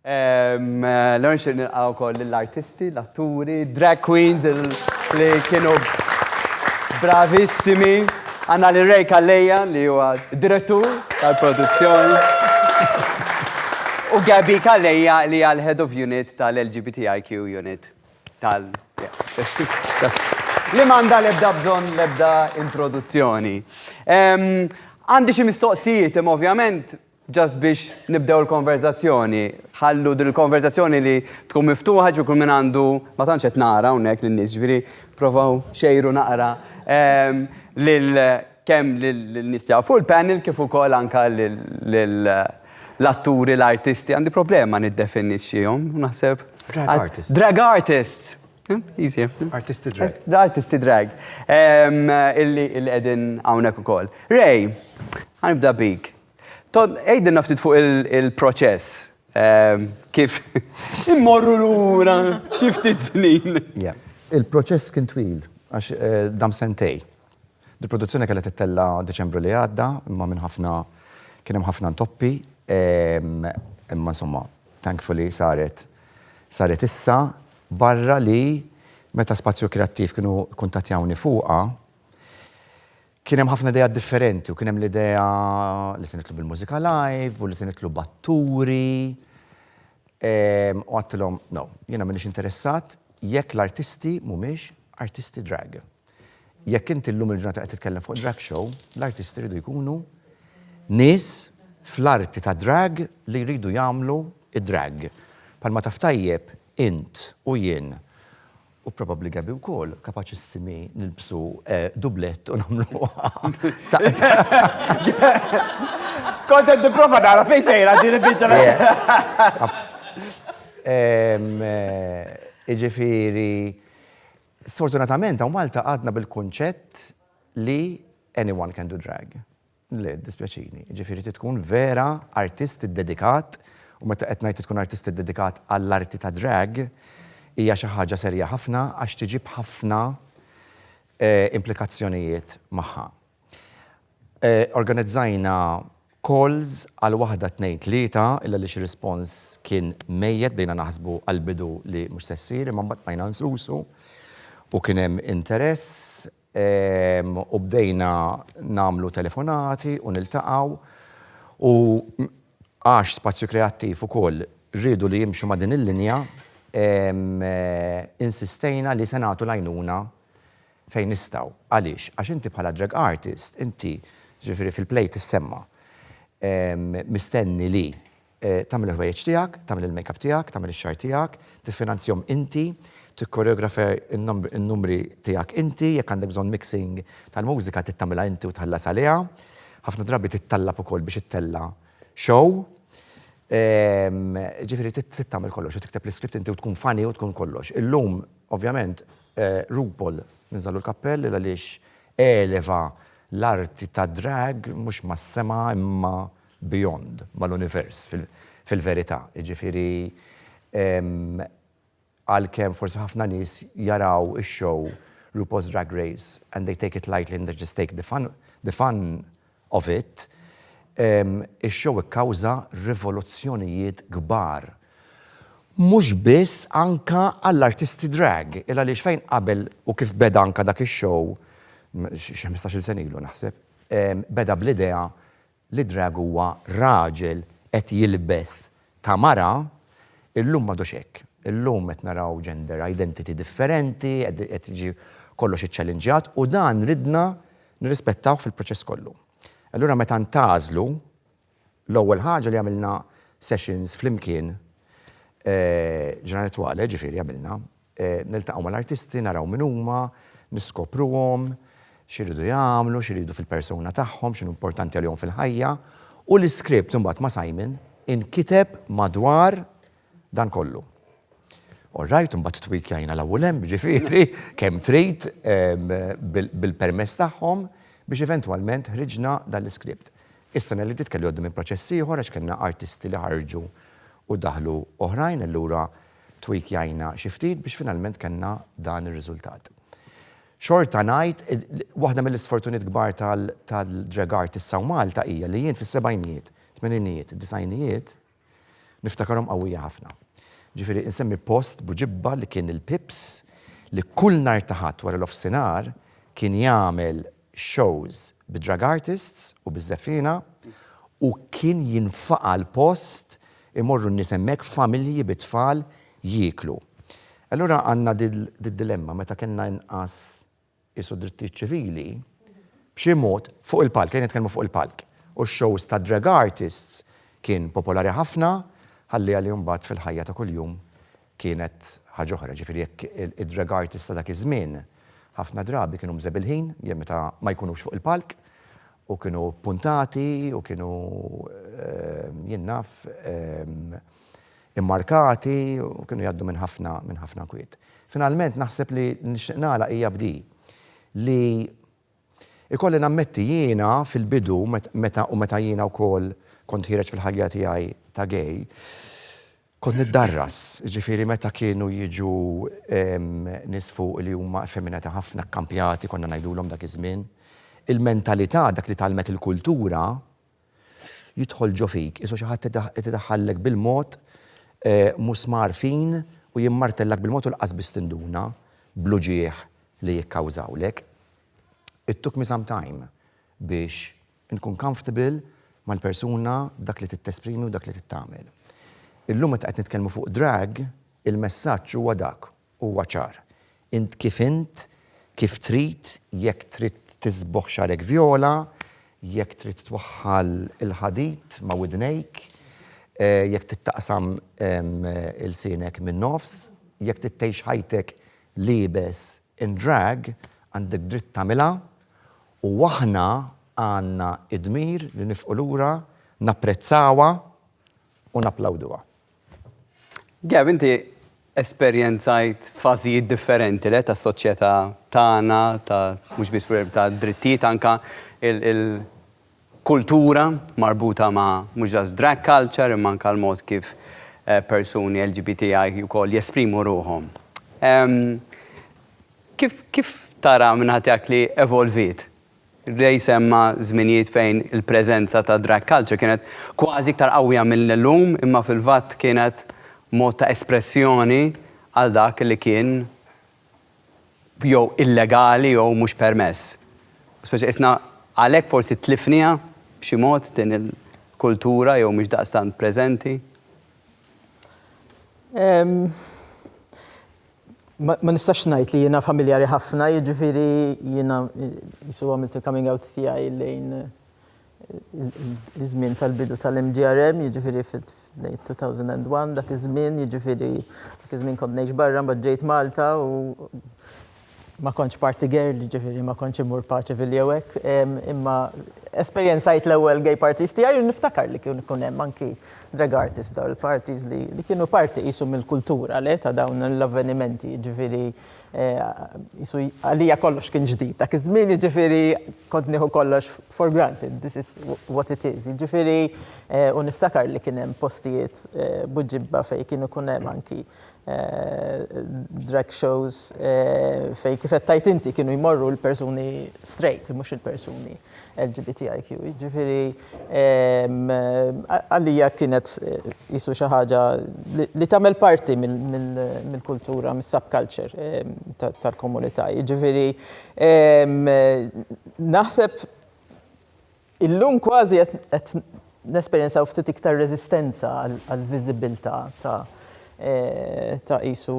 L-ewwel nixtieq nilqa' wkoll lill-artisti, l-atturi, drag queens li kienu bravissimi. Għandna lil Ray Calleja li huwa direttur tal-produzzjoni. U Gabby Calleja li hija l-Head of Unit tal-LGBTIQ Unit tal li m'għandha l-ebda bżonn l-ebda introduzzjoni. Għandi xi mistoqsijiet imma ovvjament Just biex nibdew il-konverżazzjoni. Ħallu din il-konverżazzjoni li tkun miftuħa ġifieri kull min għandu ma tantx qed nara hawnhekk lin-nies ġifieri provaw xejru naqra ehm, lil kemm lin-nies tiegħu fuq il-panel kif ukoll anke lil l-atturi, l-artisti, għandi problema niddefinixxihom, naħseb. Drag artists. Drag artists! Hm? Easy. Artisti drag. Eh, artisti drag. Ehm, illi qegħdin hawnhekk ukoll. Ray, għanibda bik. Todd, għidilna ftit fuq il-proċess. Ehm, kif immorru lura xi ftit snin. Il-proċess kien twil għax eh, dam sentej. Il-produzzjoni kellha tittella Deċembru li għadda, imma minn ħafna kien hemm ħafna ntoppi, ehm, imma insomma, thankfully saret saret issa barra li meta spazju kreattiv kienu kuntatjawni fuqa, Kien hemm ħafna ideat differenti u kien hemm l-idea li se nitlu bil-mużika live u li se nitlu b'atturi. U għattilhom, no, jiena m'iniex interessat jekk l-artisti mhumiex artisti drag. Jekk inti llum il-ġurnata qed titkellem fuq drag show, l-artisti jridu jkunu nies fl-arti tad-drag li jridu jagħmlu d-drag. Bħalma taf tajjeb int u jien u probabbli Gabby wkoll, kapaċissimi nilbsu dublett u nagħmlu Kont qed nipprova nara fejn sejra din il-biċċa. Jiġifieri, sfortunatament hawn Malta għadna bil-kunċett li anyone can do drag. Le, jiddispjaċini. Jiġifieri trid tkun vera artist iddedikat, u meta qed ngħid trid tkun artist iddedikat għall-arti tad-drag, hija xi ħaġa serja ħafna għax tiġib ħafna implikazzjonijiet magħha. Organizzajna calls għal waħda tnejn tlieta, illa għaliex ir-rispons kien mejjet, bdejna naħsbu għall-bidu li mhux se ssir, imma mbagħad bqajna nsusu u kien hemm interess. U bdejna nagħmlu telefonati u niltaqgħu u għax Spazju Kreattiv ukoll riedu li jimxu ma' din il-linja, insistejna li se nagħtu l-għajnuna fejn nistgħu. Għaliex? Għax inti bħala drag artist, inti, jiġifieri fil-play tissemma', mistenni li Tagħmel il-ħwejjeġ tiegħek, tagħmel il-makeup tiegħek, tagħmel ix-xagħar tiegħek, tiffinanzjahom inti, tikkoreografa n-numri tiegħek inti, jekk għandek bżonn mixing tal-mużika trid tagħmilha inti u tħallas għaliha. Ħafna drabi tittallab ukoll biex ittella' show. Jiġifieri trid tagħmel kollox u tikteb l-iskript inti u tkun funny u tkun kollox. Illum, ovvjament, RuPaul ninżagħlu l-kappell għaliex eleva l-arti tad-drag mhux mas-sema imma beyond, mal-univers, fil-verità. Jiġifieri, għalkemm forsi ħafna nies jaraw ix-show RuPaul's Drag Race and they take it lightly and they just take the fun the fun of it, ix-show ikkawża rivoluzzjonijiet kbar. Mhux biss anke għall-artisti drag, il-għaliex fejn qabel u kif beda anke dak ix-show, xi ħmistax-il sena ilu naħseb, beda bl-idea li drag huwa raġel qed jilbes ta' mara, illum m'għadux hekk. Illum qed naraw gender identity differenti, qed jiġi kollox iċċallinġjat u dan ridna nirrispettawh fil-proċess kollu. Allura meta ntgħażlu, l-ewwel ħaġa li għamilna sessions flimkien, ġranet twale, ġifieri għamilna, Niltaqgħu mal-artisti, naraw min huma, niskopruhom, x'iridu jagħmlu, x'iridu fil-persuna tagħhom, x'inhu importanti għalihom fil-ħajja, u l-iskript imbagħad ma' Simon inkiteb madwar dan kollu. All right, imbagħad twikjajna 'l hawn u 'l hemm, jiġifieri kemm trid bil-permess tagħhom biex eventwalment ħriġna dan l-iskript. Is-sena li għaddiet kelli għaddi minn proċess ieħor għax kellna artisti li ħarġu u daħlu oħrajn, allura, tweak jgħinna xi ftit biex finalment kellna dan ir-riżultat. Xorta ngħid, waħda mill-isfortuniet kbar tal-drag art issa u Malta hija li jien fis-sebgħinijiet, tmeninijiet, disgħinijiet, niftakarhom qawwija ħafna. Ġifieri insemmi post b'Bu Ġibba li kien il-Pips li kull nhar ta' Ħadd wara l-ofsinhar kien jagħmel, shows bid-drag artists u biż-żefriena u kien jinfaqa' l-post, imorru n-nies hemmhekk familji bit-tfal jieklu. Allura għandna did-dilemma meta kellna inqas qisu drittijiet ċivili, b'xi mod, fuq il-palk, ejja nitkellmu fuq il-palk, u x-shows tad-drag artists kien popolari ħafna, ħalli għalih mbagħad fil-ħajja ta' kuljum Kienet ħaġa oħra, jiġifieri jekk id-drag artists ta' dak iż-żmien ħafna drabi kienu mżebilħin jew meta ma jkunux fuq il-palk u kienu ppuntati u kienu jien naf immarkati u kienu jgħaddu minn ħafna minn ħafna kwiet. Finalment naħseb li nixtieq nagħlaq hija b'di li Ikolli nammetti jiena fil-bidu meta u meta jiena wkoll kont ħiereġ fil-ħajja tiegħi ta' gay, kont niddarras, jiġifieri meta kienu jiġu nies fuqi li huma effeminati ħafna, kkampjati konna ngħidulhom dak iż-żmien, il-mentalità, dak li tgħallmek il-kultura, jidħol ġo fik, isu xi ħadd qed idaħħallek bil-mod musmar fin u jimmartellak bil-mod u laqas biss tinduna bl-uġigħ li jikkawżawlek. It took me some time biex inkun comfortable mal-persuna, dak li trid tesprimi u dak li trid tagħmel. Illum meta qed nitkellmu fuq drag, il-messaġġ huwa dak, Huwa ċar. Int kif int, kif trid, jekk trid tisbogħ xagħrek vjola, jekk trid twaħħal il-ħadid ma' widnejk, jekk trid taqsam ilsienek min-nofs, jekk trid tgħix ħajtek liebes in drag, għandek dritt tagħmilha u aħna għandna d-dmir li nifqu lura, napprezzawha u napplawduha. Gab, inti esperjenzajt fażijiet differenti le tas-soċjetà tagħna, ta' mhux biss fil ta' drittijiet anke il-kultura marbuta ma' mhux just drag culture imma anke l-mod kif eh, persuni LGBTI wkoll jesprimu ruħhom. Ehm, kif, kif tara minn ħadd tiegħek li evolviet Ray semma żminijiet fejn il-preżenza ta' drag culture kienet kważi iktar qawwija mill-lum imma fil-fatt kienet mod ta' espressjoni għal dak li kien jew illegali jew mhux permess. U speċi qisna għalhekk forsi tlifniha b'xi mod din il-kultura jew mhix daqstant preżenti. Ma nistax ngħid li jiena familjari ħafna, jiġifieri jiena qisu għamilt il-coming out tiegħi lejn iż-żmien tal-bidu tal-MGRM, jiġifieri lejn 2001, dak iż-żmien, jiġifieri dak iż-żmien kont ngħix barra, mbagħad ġejt Malta u ma kontx party girl, jiġifieri ma kontx immur Pageville jew hekk, imma esperjenzajt l-ewwel gay parties tiegħi u niftakar li kienu jkun hemm anki Drag artists f'dawn il-parties li li kienu parti qisu mill-kultura le ta' dawn l-avvenimenti jiġifieri qisu għalija kollox kien ġdid dak iż-żmien jiġifieri kont nieħu kollox for granted this is what it is jiġifieri u niftakar li kien hemm postijiet b'ġibba fejn kien ikun hemm anki drag shows fejn kif qed tgħid inti kienu jmorru l-persuni straight mhux il-persuni LGBTIQ. Jiġifieri għalija kienet qisu xi ħaġa li tagħmel parti mill-kultura, mis-subculture tal-komunità. Jiġifieri naħseb Illum kważi qed nesperjenzaw ftit iktar reżistenza għall-viżibbiltà ta' ta' qisu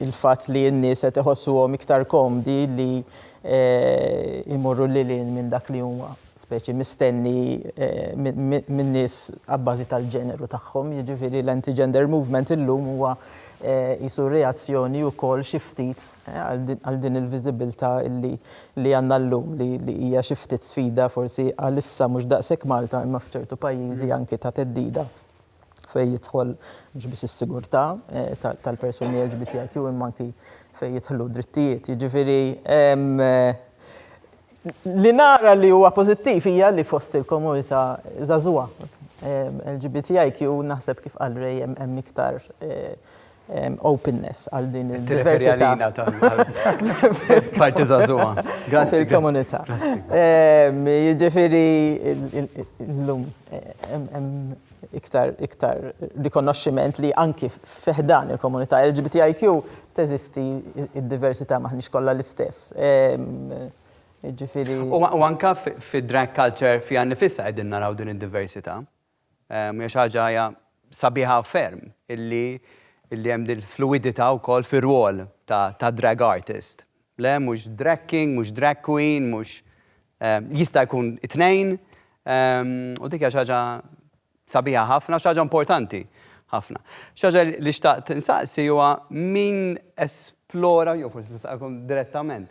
il-fatt li n-nies qed iħossuhom iktar komdi li jmorru lil hinn minn dak li huma speċi mistenni min-nies abbażi tal-ġeneru tagħhom. Jiġifieri l-anti-gender movement illum huwa qisu reazzjoni wkoll xi ftit għal din il-viżibilità li għandna llum li hija xi ftit sfida forsi għalissa mhux daqshekk Malta imma f'ċertu pajjiżi anki ta' theddida fejn jidħol mhux biss is-sigurtà tal-persuni LGBTIQ imma anki fejn jidħlu drittijiet. Jiġifieri li nara li huwa pożittiv hija li fost il-komunità żagħżugħa LGBTIQ naħseb kif qal Ray hemm iktar openness għal din il-diversità. Tirreferi għalina tal-parti żagħżugħa. Grazzi. Il-komunità. Jiġifieri llum iktar iktar rikonoxximent li anki fiħdan il-komunità LGBTIQ teżisti d-diversità m'aħniex kollha l-istess. Jiġifieri. U anke fid-drag culture fiha nnifisha qegħdin naraw din id-diversità. Hija xi ħaġa hija sabiħa ferm illi illi hemm din il-fluwidità wkoll fir-rwol ta' ta' drag artist. Le, mhux drag king, mhux drag queen, mhux jista' jkun it-tnejn u dik hija xi ħaġa sabiħa ħafna u xi ħaġa importanti ħafna. Xi ħaġa li xtaqt insaqsi huwa min esplora, jew forsi nistaqilkom direttament.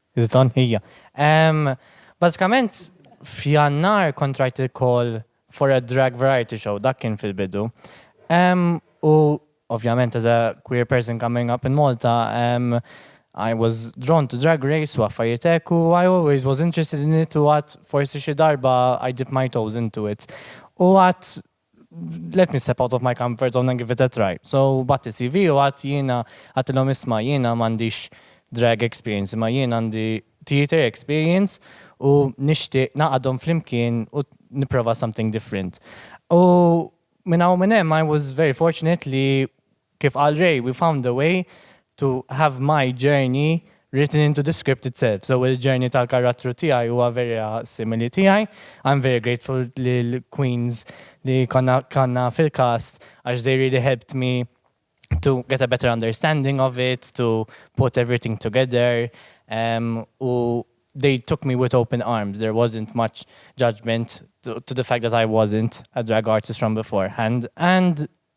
Iżdan hija. Ehm, bażikament f'Jannar kont rajt il-call for a drag variety show, dak kien fil-bidu. Ehm, u ovvjament as a queer person coming up in Malta, ehm, I was drawn to drag race u affarijiet hekk u I always was interested in it u għad forsi xi darba I dip my toes into it. U għad let me step out of my comfort zone and give it a try. So batti CV u għadt jiena għattilhom isma' jiena m'għandix drag experience imma jien għandi theatre experience u nixtieq nagħqadhom flimkien u nipprova something different. U minn hawn u minn hemm I was very fortunate li Kif qal Ray, we found a way to have my journey written into the script itself, so il-journey tal-karattru tiegħi huwa vera simili tiegħi. I'm very grateful lill-queens li konna kellna fil-cast għax they really helped me to get a better understanding of it, to put everything together u they took me with open arms, there wasn't much judgement to the fact that I wasn't a drag artist from beforehand and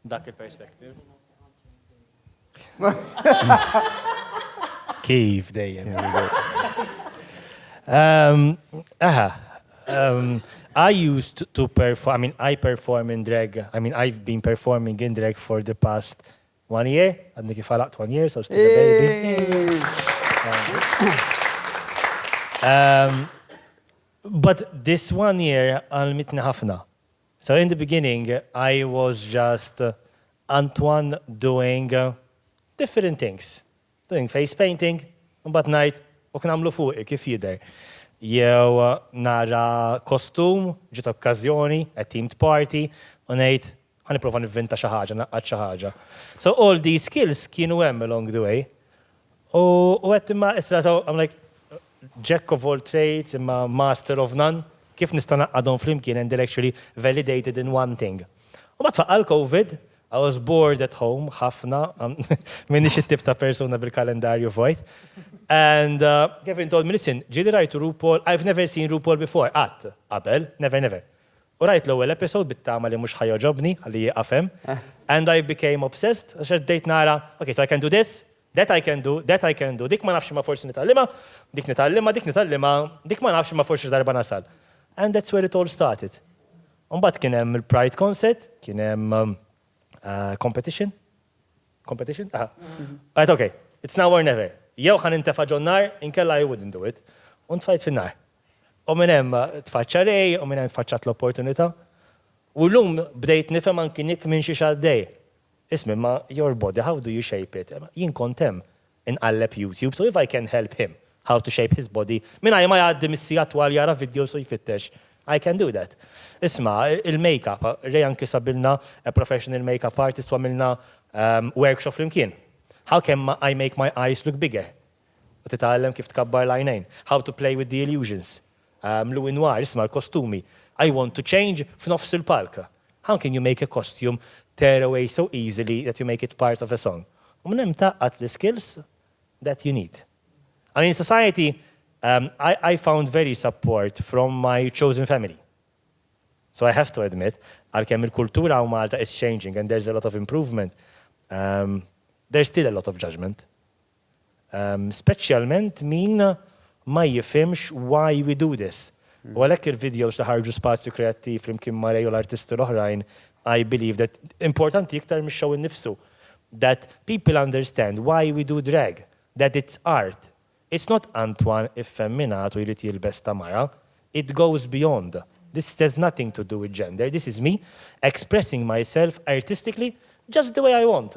Dak il-perspective. Kif dejjem. Um, aha. Um, I used to perform, I mean, I perform in drag. I mean, I've been performing in drag for the past one year. Għadni kif għalaqt one year, so still a baby. Um, but this one year għal mitni ħafna. So in the beginning I was just Antoine doing different things, doing face painting, imbagħad ngħid ok nagħmlu fuqi kif jidher. Jew nara kostum, ġiet okkażjoni, a themed party, u ngħid ħa nipprova nivvinta xi ħaġa, ngħaqqad xi ħaġa. So all these skills kienu hemm along the way. U għedt, Imma issa sew, I'm like, Jack of all trades imma master of none? Kif nista' ngħaqqadhom flimkien and they're actually validated in one thing? U mbagħad faqqa' l-Covid, I was bored at home ħafna, m'iniex it-tip ta' persuna bil-kalendarju vojt, and Kevin told me, Listen, ġieli rajt RuPaul, I've never seen RuPaul before, qatt, qabel, never, never. U rajt l-ewwel episode bit-tama li mhux ħa jogħġobni, ħalli jieqaf hemm. And I became obsessed għax qed bdejt nara, ok, so I can do this, that I can do, that I can do, dik ma nafx imma forsi nitgħallimha, dik nitgħallimha, dik nitgħallimha, dik ma nafx imma forsi xi darba nasal. And that's where it all started. U mbagħad kien hemm il-Pride Concert, kien hemm competition, competition? Aha. Għedt ok, it's now or never. Jew ħa nintefa' ġon-nar, inkella I wouldn't do it. U ntfajt fin-nar. U minn hemm tfaċċa Ray u minn hemm tfaċċat l-opportunità. U llum bdejt nifhem anki Nick minn xiex għaddej. Isma' imma your body how do you shape it? Jien kont hemm. Inqalleb YouTube so if I can help him how to shape his body mingħajr ma jgħaddi mis-siegħa twal jara videos u jfittex I can do that. Isma' il-makeup, Ray anki sabilna a professional makeup artist u għamilna workshop flimkien. How can I make my eyes look bigger? u titgħallem kif tkabbar l-għajnejn, How to Play with the Illusions, Louis Noir, isma' l-kostumi, I Want to Change f'nofs il-palk, How can you make a costume tear away so easily that you make it part of a song? U minn hemm tgħaqqad l-iskills that you need. I mean society, I I found very support from my chosen family. So I have to admit, għalkemm il-kultura hawn Malta is changing and there's a lot of improvement, there's still a lot of judgement. Speċjalment min ma jifhimx why we do this. U għalhekk il-videos li ħarġu Spazju Kreattiv flimkien ma' Ray u l-artisti l-oħrajn I believe that importanti iktar mix-show innifsu. That people understand why we do drag. That it's art. It's not Antoine iffemminat u jrid jilbes ta' mara. It goes beyond. This has nothing to do with gender. This is me expressing myself artistically just the way I want.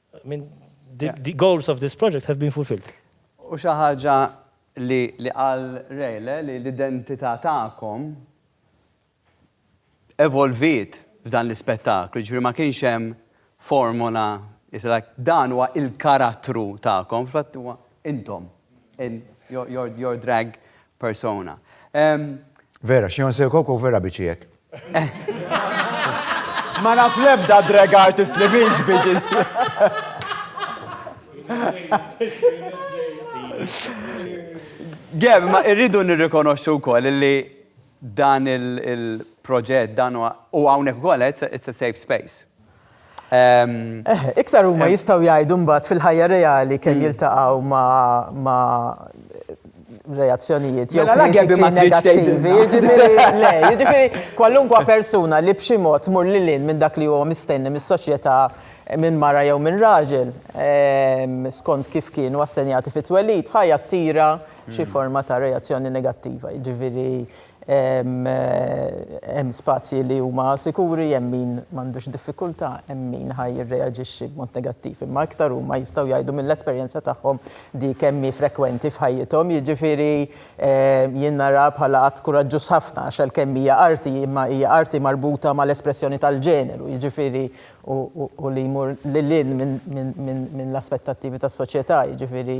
I mean, the goals of this project have been fulfilled. U xi ħaġa li li qal Ray le li l-identità tagħkom evolviet f'dan l-ispettaklu, jiġifieri ma kienx hemm formola, it's like dan huwa l-karattru tagħkom, fil-fatt huwa intom. In your, your, your drag persona. Um, Vera, xjon se koko vera biċi jek. Ma naf lebda drag artist li minx biċi. Geb, ma irridu nirrikonoxxu wkoll li dan il-proġett dan u hawnhekk ukoll it's a safe space. Iktar huma jistgħu jgħidu mbagħad fil-ħajja reali kemm jiltaqgħu ma' reazzjonijiet jew kritiċi negattivi. Jiġifieri kwalunkwe persuna li b'xi mod tmur lil hinn minn dak li huwa mistenni mis-soċjetà minn mara jew minn raġel skont kif kienu assenjati fit-twelid ħa jattira xi forma ta' reazzjoni negattiva. Jiġifieri Hemm spazji li huma sikuri, hemm min m'għandux diffikultà, hemm min ħa jirreaġixxi b'mod negattiv. Imma iktar huma jistgħu jgħidu mill-esperjenza tagħhom dik kemm hi frekwenti f'ħajjithom. Jiġifieri jien naraha bħala att kuraġġuż ħafna għax għalkemm hija arti, imma hija arti marbuta mal-espressjoni tal-ġeneru, jiġifieri u li jmur lil hinn minn l-aspettattivi tas-soċjetà, jiġifieri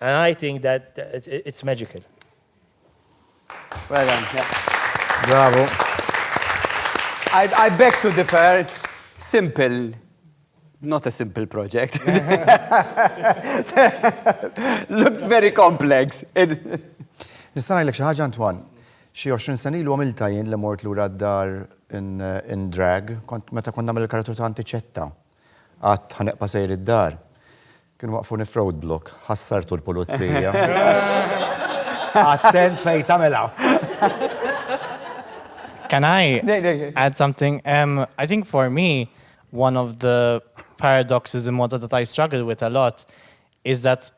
And I think that it's magical. Well done. Yeah. Bravo. I, I beg to differ. Simple. Not a simple project. Looks very complex. Nista' ngħidlek xi ħaġa Antoine. Xi 20 sena ilu għamilta jien li mort lura d-dar in drag, kont meta kont nagħmel il-karatur ta' Antiċetta. Għadt ħa neqpa' sejr id-dar. Kienu waqqfuni f'roadblock, ħassartu l-pulizija. Attent fejn tagħmilha. Can I add something? Um, I think for me, one of the paradoxes in Malta that I struggle with a lot is that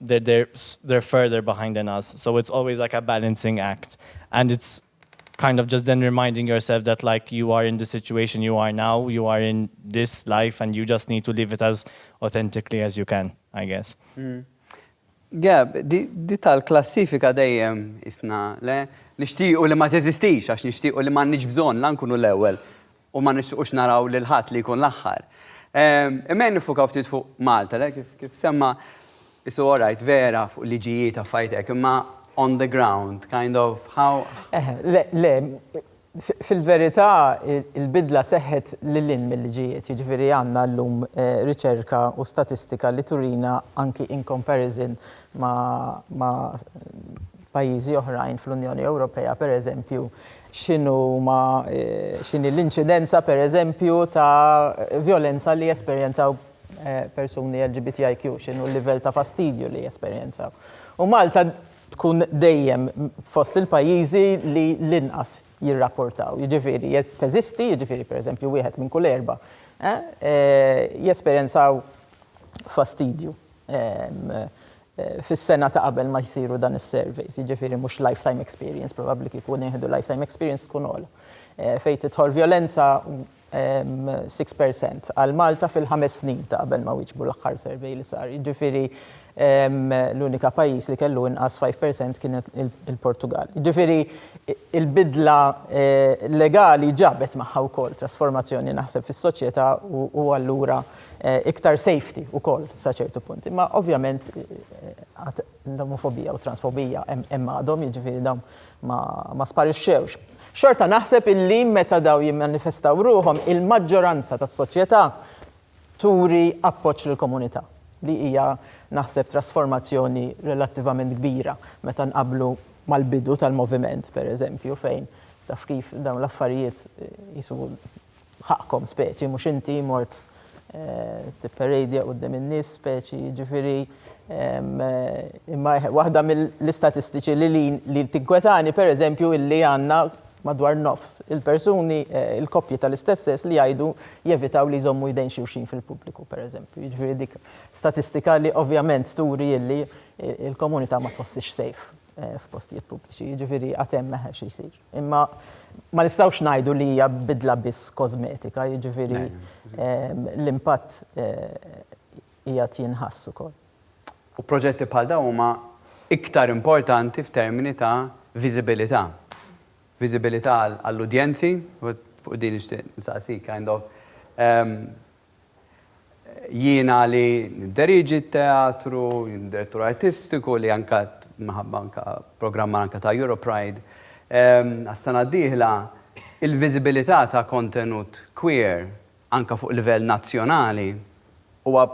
they're further behind than us so it's always like a balancing act and it's kind of just then reminding yourself that like you are in the situation you are now, you are in this life and you just need to live it as authentically as you can, I guess. Gab, di tal-klassifika dejjem qisna, le? Nixtiequ li ma teżistix għax nixtiequ li m'għandniex bżonn la nkunu l-ewwel u ma nixtiequx naraw lil ħadd li jkun l-aħħar. Imma jien niffukaw ftit fuq Malta, le? Kif, kif semma It's all right, vera, fuq liġijiet affarijiet hekk, imma on the ground, kind of how? Eħe, le, le, fil-verità il-bidla seħħet lil hinn mil-liġijiet, jiġifieri għandna llum riċerka u statistika li turina anki in comparison ma' pajjiżi oħrajn fl-Unjoni Ewropea, pereżempju, x'inhi l-inċidenza, pereżempju, ta' vjolenza li jesperjenzaw persuni LGBTIQ, x'inhu l-livell ta' fastidju li jesperjenzaw. U Malta tkun dejjem fost il-pajjiżi li l-inqas jirrapportaw. Jiġifieri, teżisti, jiġifieri, pereżempju, wieħed minn kull erba' jesperjenzaw fastidju. fis-sena ta' qabel ma jsiru dan is-surveys, jiġifieri mhux lifetime experience, probabbli kieku nieħdu lifetime experience tkun ogħla. Fejn tidħol vjolenza, six percent għal Malta fil-ħames snin ta' qabel ma wieġbu l-aħħar survey li sar. Jiġifieri l-unika pajjiż li kellu inqas five percent kien il-Portugall. Jiġifieri l-bidla legali ġabet magħha wkoll trasformazzjoni naħseb fis-soċjetà u allura iktar safety ukoll sa ċertu punt. Imma ovvjament għad l-omofobija u t-transfobija hemm għadhom, jiġifieri dawn ma sparixxewx. Xorta naħseb illi meta dawn jimmanifestaw ruħhom il-maġġoranza tas-soċjetà turi appoġġ lill-komunità li hija naħseb trasformazzjoni relattivament kbira meta nqabblu mal-bidu tal-moviment, pereżempju, fejn taf kif dawn l-affarijiet qisu B'ħaqqkom speċi, mhux inti mort tipperejdja quddiem in-nies speċi, jiġifieri, imma waħda mill-istatistiċi li li li tinkwetani pereżempju illi għandna madwar nofs il-persuni, il-koppji tal-istess sess li jgħidu jevitaw li jżommu jdejn xulxin fil-pubbliku pereżempju. Jiġifieri dik statistika li ovvjament turi illi l-komunità ma tħossix safe f'postijiet pubbliċi, jiġifieri għad hemm xi jsir. Imma ma nistgħux ngħidu li hija bidla biss kożmetika, jiġifieri l-impatt qiegħed jinħass ukoll. U proġetti bħal dawn huma iktar importanti f'termini ta' viżibilità. Viżibilità għall-udjenzi, fuq din nixtieq insaqsik kind of, Jiena li nidderieġi t-teatru, jien direttur artistiku li anke minħabba anke programmar anke ta' Europride għas-sena d-dieħla, il-viżibilità ta' kontenut queer anke fuq livell nazzjonali huwa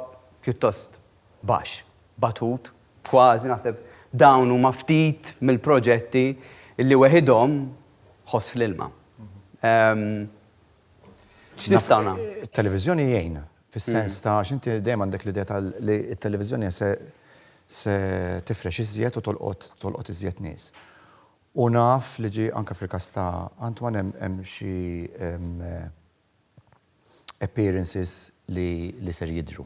pjuttost baxx, batut, kważi naħseb dawn huma ftit mill-proġetti li weħidhom ħoss fl-ilma. X'nistgħu nagħmlu? It-televiżjoni jgħin fis-sens ta' għax inti dejjem għandek l-idea ta' li t-televiżjoni se tifrex iżjed u tolqot tolqot iżjed nies. U naf li ġie anke fil-każ ta' Antoine hemm hemm xi appearances li li ser jidhru.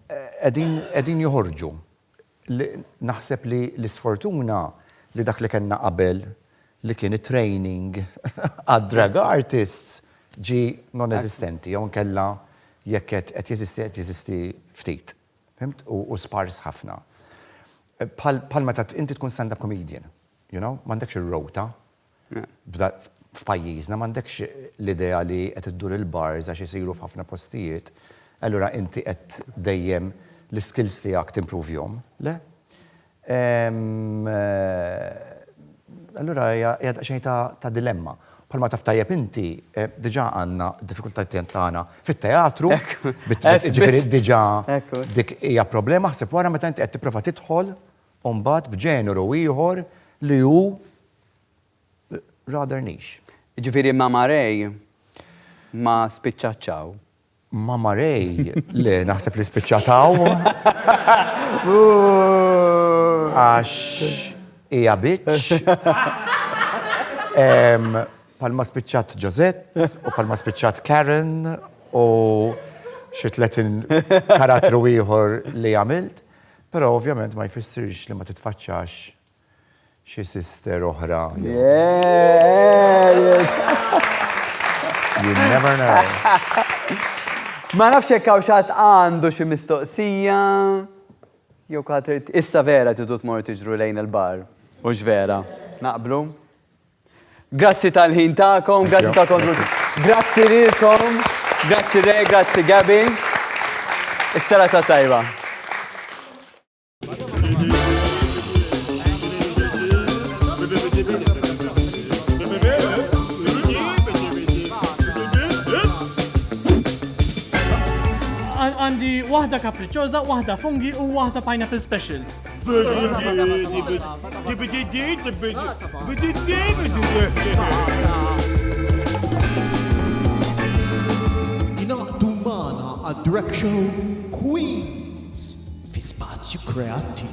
Qegħdin qegħdin joħorġu. li naħseb li l-isfortuna li dak li kellna qabel li kien it-training għad-drag artists ġie non-eżistenti jew inkella jekk qed qed jeżisti qed jeżisti ftit, fhimt, u u spars ħafna. Bħal bħal meta inti tkun stand-up comedian, you know, m'għandekx ir-rota f'pajjiżna m'għandekx l-idea li qed iddur il-bars għax isiru f'ħafna postijiet, allura inti qed dejjem l-iskills tiegħek timpruvjhom, le? Allura hija daqsxejn ta' dilemma. Bħalma taf tajjeb inti, diġà għandna d-diffikultajiet tagħna fit-teatru, jiġifieri diġà dik hija problema, ħseb wara meta inti qed tipprova tidħol u mbagħad b'ġeneru ieħor li hu rather niche. Jiġifieri Mama Ray ma spiċċatx hawn? Mama Ray, le, naħseb li spiċċat hawn. Għax hija bitch. Palma spiċċat Josette u palma spiċċat Karen u xi tletin karattru ieħor li għamilt. Però ovvjament ma jfissirx li ma titfaċċax xi sister oħra. You never know. Ma nafx jekk hawn xatt għandu xi mistoqsija. Jew ħadd issa vera tidu tmur tiġru lejn il-bar. Hux vera? Naqblu? Grazzi tal-ħin tagħkom, grazzi tal-kontribut. Grazzi lilkom, grazzi Re, grazzi Gabi. Is-sera ta' tajba. għandi waħda kapriċċoża, waħda fungi u waħda pineapple special. Inaqdu magħna għad-Drag Show Queens fi spazju kreattiv.